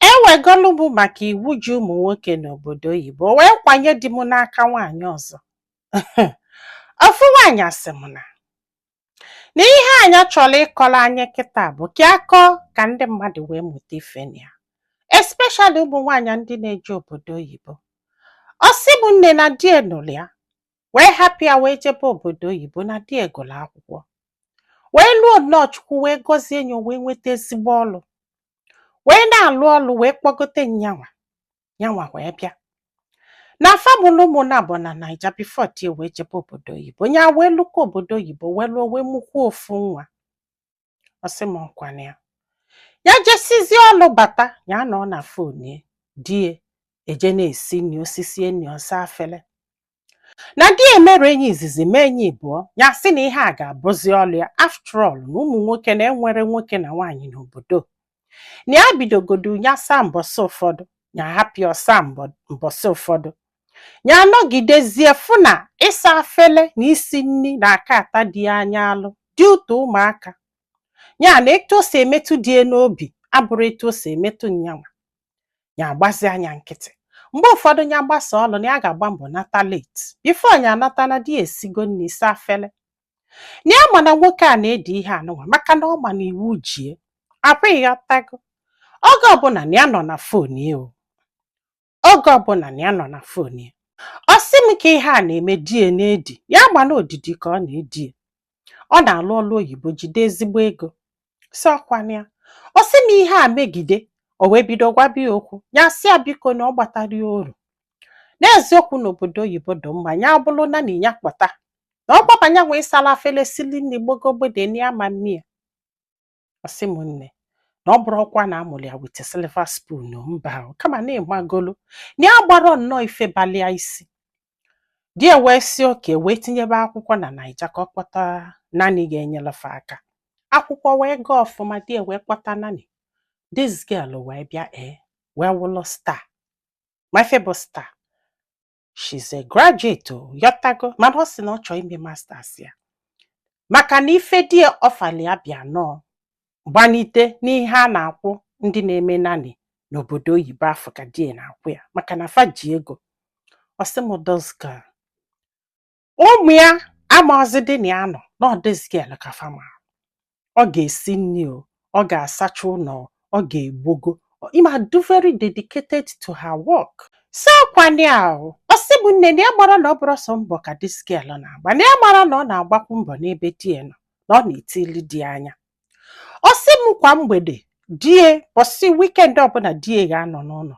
ewegolu m maka iwu ji ụmụ nwoke n'obodo oyibo wee kwanye di m n'aka nwaanyị ọzọ ofu nwaanyị sị m na ihe a nya chọrọ ịkọrọ anyị kịta bụ ka a kọọ ka ndị mmadụ wee mụta ife na ya especially ụmụ nwaanyị ndị na-eje obodo oyibo ọ sị m nne na di ya nụrụ ya wee hapụ ya wee jebe obodo oyibo na di ya gụrụ akwụkwọ wee lụọ nnọọ chukwu wee gọzie ya o wee nweta ezigbo ọrụ wee na-alụ ọlụ wee kpọgote nyanwa nyanwa wee bịa na fa mụlụ ụmụ naabọ na naija before di ya wee jebe obodo oyibo nya wee lukwa obodo oyibo wee luo wee mụkwuo ofu nwa ọ sị m ọkwa na ya ya jesizie ọlụ bata ya nọ na phone di ya eje na-esi nri o sisie nri ọ saa afele na di ya mere ya izizi mee ya ịbụọ ya sị na ihe a ga-abụzi ọlụ ya after all na ụmụ nwoke na enwerọ nwoke na nwaanyị n'obodo na ya bidogodu ya saa mbọsị ụfọdụ ya hapụ ya ọ saa mbọ- mbọsị ụfọdụ ya anọgidezie fụ na ịsa afele na isi nri na aka ata dị ya anya alụ dị ụtọ ụmụaka ya na etu o si emetụ di ya n'obi abụrọ etu o si emetụ nyanwa ya agbazi anya nkịtị mgbe ụfọdụ ya gbasa ọlụ na ya ga-agba mbọ nata late before ya anata na di ya esigo nri saa afele na ya ma na nwoke a na-edi ihe anụnwa maka na ọ ma na iwu ji ya ọkwa ịghọtago oge ọbụla na ya nọ na phone ya o oge ọbụla na ya nọ na phone ya ọ sị m ka ihe a na-eme di ya na-edi ya ma na odidi ka ọ na-edi ya ọ na-alụ ọlụ oyibo jide ezigbo ego sị ọkwa na ya ọ sị m ihe a megide o wee bido gwaba ya okwu ya sị ya biko na ọ gbatarọ ya oru n'eziokwu na obodo oyibo dị mma ya bụrụ na na ya kpọta na ọ gbabanye nwe ịsala afele sili nni gbogogbede na ya ma mmiri ọ sị m nne na ọ bụrọkwa na a mụrụ ya with silver spoon mba kama na ịmagolu na ya gbara nnọọ ife balịa isi di ya wee sị okay wee tinyebe akwụkwọ na naija ka ọ kpọta nanny ga-enyelụ fa aka akwụkwọ wee gaa ọfụma di ya wee kpọta nanny this girl wee bịa ee eh, wee wụlụ star ma ife bụ star she's a graduate o ịghọtago mana ọ sị na ọ chọọ ime masters ya maka na ife di ya ọfali ya bịa nnọọ gbanite n'ihe a na-akwụ ndị na-eme nanny n'obodo oyibo afụ ka di ya na-akwụ ya maka na fa ji ego ọ sị m this girl ụmụ ya amarọzịdị na ya nọ na ọ this girl ka fa mara ọ ga-esi nni o ọ ga-asacha ụnọ o, ọ ga-egbogo ima do very dedicated to her work so nwaanyị ahụ ọ sị m nne na ya marọ na ọ bụrọ sọ mbọ ka this girl na-agba na ya marọ na ọ na-agbakwu mbọ n'ebe di ya nọ na ọ na-etili di ya anya ọ sị m kwa mgbede di ya ụbọsị weekend ọbụla di ya ga-anọ n'ụlọ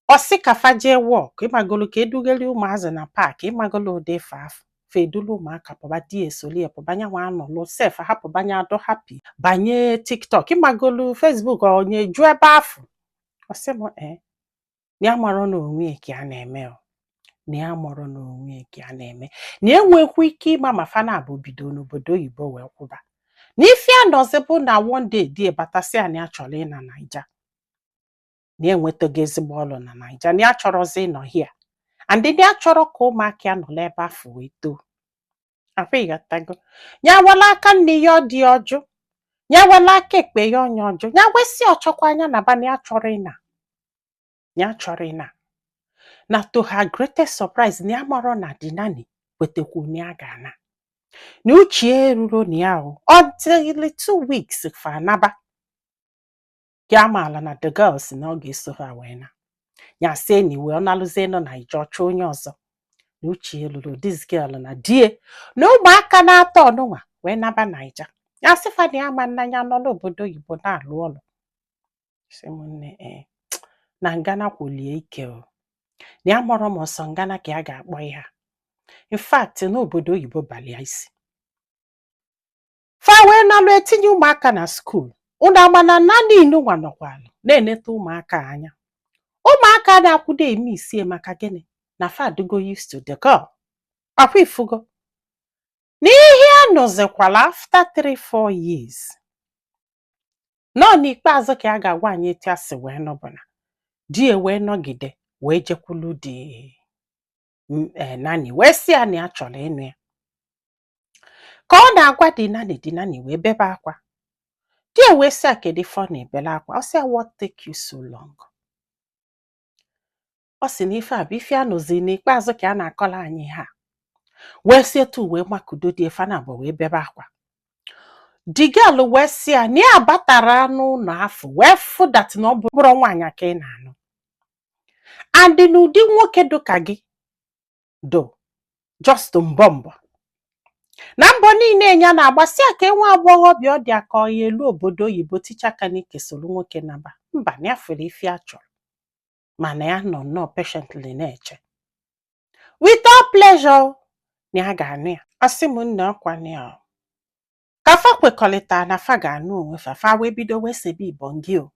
ọ sị ka fa jee walk ịmagolo ka e dughali ụmụazị na park ịmagolo ụdị ife afụ fa edulu ụmụaka pụba di ya esolie pụba nyanwa anọlụ sef hapụ banye adị happy banye tiktok ịmagolo facebook onye ju ebe afụ ọ sị m ee na ya marọ na onwe ya ka a na-eme o na ya marọ na onwe ya ka a na-eme na enwekwa ike ịma ma fa naabọ bido n'obodo oyibo wee kwụba na ife a nụzi bụ na one day di ya abata sị ya na ya chọrọ ịna naija na ya enwetago ezigbo ọrụ na naija na ya chọrọzi ịnọ here and na ya chọrọ ka ụmụaka ya nọlụ ebe afụ wee too akwa ịghọtago ya wela aka nni nye di ọ jụ ya wela aka ekpe nye ya ọ jụ ya wee sị ọ chọkwa nya naba na ya chọrọ ịna ya chọrọ ịna na to her greatest surprise na ya marọ na the nanny kwetekwu na ya ga-ana na uche ya eruro na ya o until two weeks fa anaba ka ya maala na the girl sị na ọ ga-eso ha wee na ya sị anyway ọ nalụzie na naija ọ chọọ onye ọzọ na uche ya luro this girl na di ya na ụmụaka naatọ ọnụnwa wee naba naija ya sị fa na ya ma na ya nọ n'obodo oyibo na-alụ ọlụ sị m nne ee na ngana kwulie ike o na ya marọ ma ọ sọ ngana ka ya ga-akpọ ihe a in fact na obodo oyibo balụ ya isi fa wee nalụ etinye ụmụaka na school unu ama na nanny nụnwa nọkwalụ na-eneta ụmụaka anya ụmụaka na-akwụdo eme isie maka gịnị na fa adịgo used to the girl akwa ị fụgo na ihe a nụzikwala after 3-4 years na ọ n'ikpeazụ ka a ga-agwa anyị etu ya si wee nụ bụ na di ya wee nọgide wee jekwulu the m- eh, nanny wee sị ya na ya chọrọ ịnụ ya ka ọ na-agwa the nanny the nanny wee bebe akwa di ya wee sị ya kedu ife ọ na-ebele akwa ọ sị ya what take you so long ọ sị na ife a bụ ife a nụzi n'ikpeazụ ka a na-akọla anyị ha wee si etu wee makudo di ya fa naabọ wee bebe akwa the girl wee sị ya na ya batara n'ụnọ afụ wee fụ that na ọ bụrọ nwaanyị ka ị na-anụ and n'ụdị nwoke dụ ka gị do just mbọ mbọ na mbọ niile nya na-agba sị ya ka nwa agbọghọbịa ọ dị aka ọ ya-elu obodo oyibo ticha aka n'ike soro nwoke naba mba na ya fụrụ ife ya chọrọ mana ya nọ nnọọ patiently na-eche with all pleasure na ya ga-anụ ya ọ sị m nne ọkwa na ya ka fa kwekọrịta na fa ga-anụ onwe fa fa wee bido wee sebe ibongi o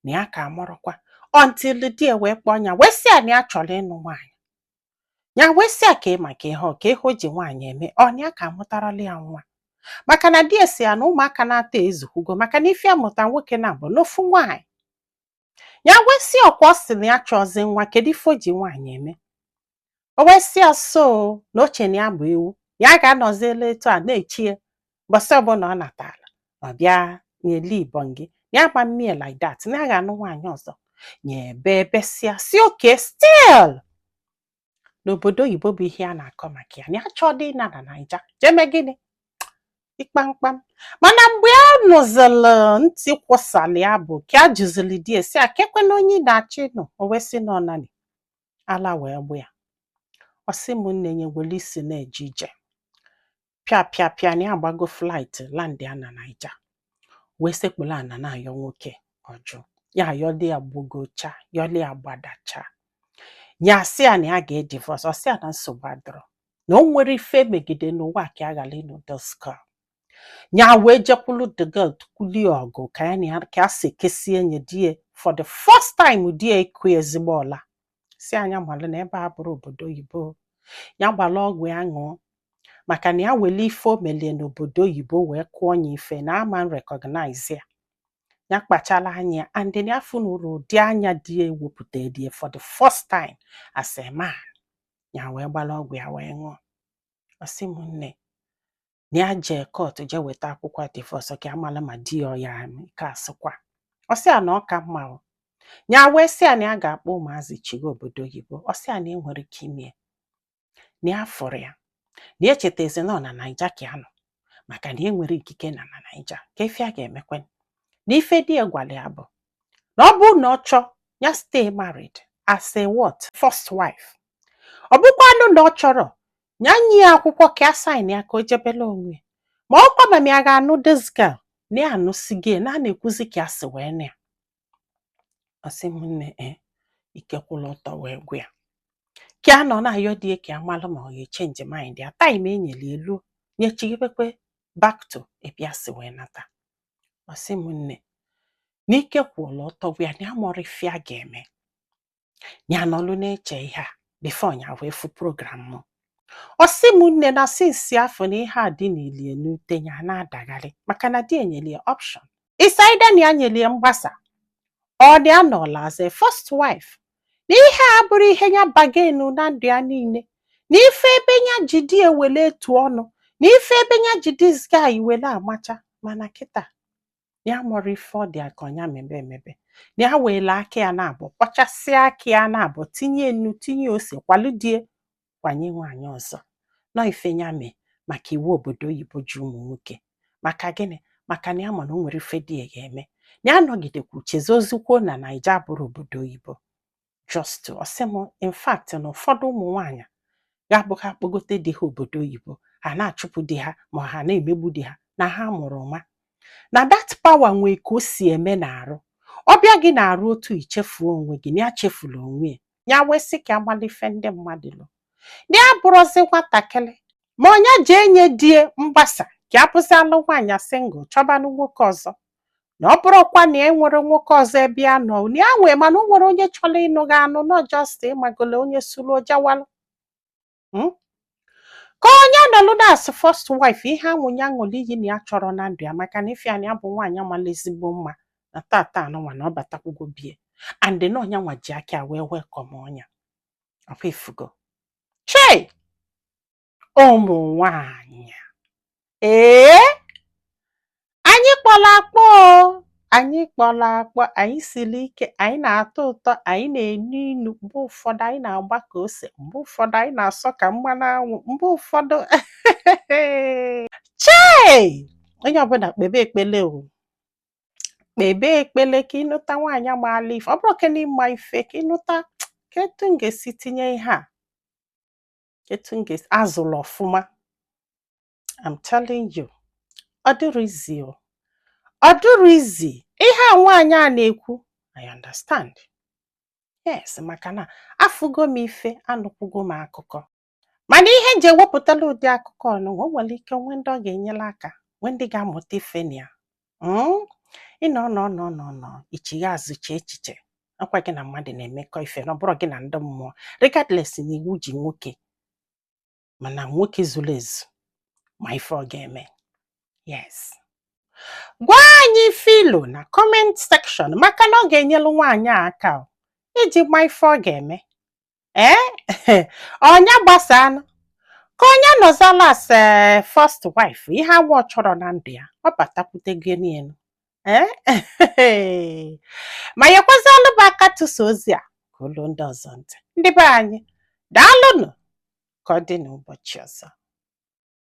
na ya ka amarọkwa until di e wee kpọọ ya wee sị ya na ya chọrọ ịnụ nwaanyị ya wee sị ya ka ị maka ihe ọ ka ihe o ji nwaanyị eme ọ na ya ka amụtarala ya nwa maka na di e sị ya na ụmụaka naatọ ezukwugo maka na ife ya mụta nwoke naabọ na ofu nwaanyị ya wee sị ọkwa ọ sị na ya achọzi nwa kedu ife o ji nwaanyị eme o wee sị ya so na o che na ya bụ ewu ya ga-anọzili etu a na-eche ya mbọsị ọbụla ọ natara ọ bịa nyeli ibongi na ya ama mee like that na ya ga-anụ nwaanyị ọzọ nya ebe ebesịa sị okay still n'obodo oyibo bụ ihe a na-akọ maka ya na ya chọọ dị na na naija jeme gịnị ịkpamkpam mana mgbe ya nụzịlụ ntị kwụsala ya bụ ka ya jụzịlị di e sị a kekwanụ onye ị na-achọ ịnụ o wee sị na ọ nanny ala wee gba ya ọ sị m nne nya were isi na-eje ije pịa pịa pịa na ya agbago flight land ya na naija wee sekpulu ana na-ayọ nwoke ọ jụ ya ayọli ya gbagocha yọli ya gbadacha ya asị ya na ya ga-edivorce ọ sị ya na nsogbu adọrọ na o nwere ife megide n'ụwa ka ya ghara ịnụ doska ya wee jekwulu the girl to kwulie ọgụ ka ya na ya ka ya si kesie nye di e for the first time di e akụ nya ezigbo ọla sị nya malụ na ebe a abụrọ obodo oyibo ya gbalụ ọgwụ ya ṅụọ maka na ya wele ife o meli e n'obodo oyibo wee kụọ ya ife na ama recognize ya ya kpachala anya ya and na ya afụnurọ ụdị anya di ya ewepụta di ya for the first time as a man ya wee gbara ọgwụ ya wee ṅụọ ọ sị m nne na ya jee court je weta akwụkwọ divorce ka amala ma di ya ọ ya ka asịkwa ọ sị ya na ọ ka mma o ya wee sị ya na ya ga-akpọ ụmụazị chiga obodo oyibo ọ sị ya na enwerọ ike ime ya na ya fụrụ ya na ya chetazi na ọ na naija ka ya nọ maka na enwere ikike na na naija ka ife a ga-emekwe na ife di ya gwara ya bụ na ọ bụrụ na ọ chọọ ya stay married as a what first wife ọ bụkwanụ na ọ chọrọ ya nye ya akwụkwọ ka ya sain ya ka o jebela onwe ya. ma ọ kwa ma ya ga-anụ this girl na ya anụsi gị na a na-ekwuzi ka ya si wee na ya ọ sị m nne ike kwụrụ ọtọ wee gwa ya ka a nọ na-ayọ di ya ka ya malụ ma ọ ga-echenji mind ya taim enyere ya eluo nya echighebekwe back to ebe ya si wee nata ọ sị m nne na ike kwụrụ ọtọ gwa ya na ya amọrọ ife ya ga-eme ya nọlụ na-eche ihe a bifo ya wee fụ program m ọ sị m nne na sinsi afụ na ihe a dị n'ilie n'uche ya na-adagharị maka na di ya enyelie option it's either na ya nyelie mgbasa or nya anọla as a first wife na ihe a abụrọ ihe ya bargain-ụ na ndụ ya niile na ife ebe ya ji di ya wele etu ọnụ na ife ebe ya ji dis guy wele amacha mana kịta ya amọrọ ife ọ dị ya ka ọ nya mebe emebe na ya weele aka ya naabọ kwọchasịa aka ya naabọ tinye nnu tinye ose kwalụ di ya kwanye nwaanyị ọzọ na ọ ife ya mee maka iwu obodo oyibo ji ụmụ nwoke maka gịnị maka na ya ma na o nwerọ ife di ya ga-eme na ya nọgidekwu chezọzikwuo na naija abụrọ obodo oyibo just ọ sị m in fact na ụfọdụ ụmụ nwaanyị ga-abụ ha kpọgote di ha obodo oyibo ha na-achụpụ di ha ma ha na-emegbu di ha na ha mụrụ nwa na dat pawa nwee ka o si eme n'arụ ọ bịa gị n'arụ otu i chefuo onwe gị na ya chefula onwe ya ya wee sị ka ya malụ ife ndị mmadụ lo na ya abụrọzi nwatakịrị ma ọ nya je enye di ya mgbasa ka ya bụzịalụ nwaanyị singụl chọbanụ nwoke ọzọ na ọ bụrọkwa na e nwerọ nwoke ọzọ ebe ya nọ na ya nwee mana o nwerọ onye chọrọ ịnụ gị anụ na ọ just ịmagolo onye suru ọ jawalụ Mm? ka ọ nya nọlụ as first wife ihe anwa nya ṅụlụ iyi na ya achọrọ na ndụ ya maka na ife a nya bụ nwaanyị amala ezigbo mma na tata anụnwa na ọ batakwugo be ya and na ọ nya nwa ji aka wee welcome-ọ nya ọkwa ifugo chei ụmụ nwanyị ee anyị kpọrọ akpọ anyị kpọrọ akpọ anyị siri ike anyị na-atọ ụtọ anyị na-enu inu mgbe ụfọdụ anyị na-agba ka ose mgbe ụfọdụ anyị na-asọ ka mmanụ anwụ mgbe ụfọdụ chei onye ọbụla kpebe ekpele o kpebe ekpele ka ịnụta nwaanyị maala ife ọ bụrọ ka n'ịma ife ka ịnụta kee etu m ga-esi tinye ihe a etu m ga-esi azụrụ ọfụma I'm telling you ọ dịrọ izi o ọ dịrọ izi ihe a nwaanyị a na-ekwu I understand yes maka na afụgo m ife anụkwugo m akụkọ mana ihe m ji ewepụtala ụdị akụkọ ọnụ o nwere ike nwee ndị ọ ga-enyere aka nwee ndị ga-amụta ife na ya hmm? ịnọ nọ nọ nọ nọ i chigha azụ chee echiche akwa gị na mmadụ na-emekọ ife na ọ bụrọ gị na ndị mmụọ regardless na iwu ji nwoke mana nwoke zulu ezu ma ife ọ ga-eme yes gwa anyị ife i lo na comment section maka na ọ ga-enyelu nwaanyị a aka iji ma ife ọ ga-eme ee eh? ọnya gbasa anụ ka onye nọzala as eh, first wife ihe anwa ọ chọrọ na ndụ ya ọ batakwute gị n'elu eh? ma nyekwazịalụ m aka tụsa ozi a ka o lu ndị ọzọ ntị ndị be anyị daalụnụ ka ọ dị n'ụbọchị ọzọ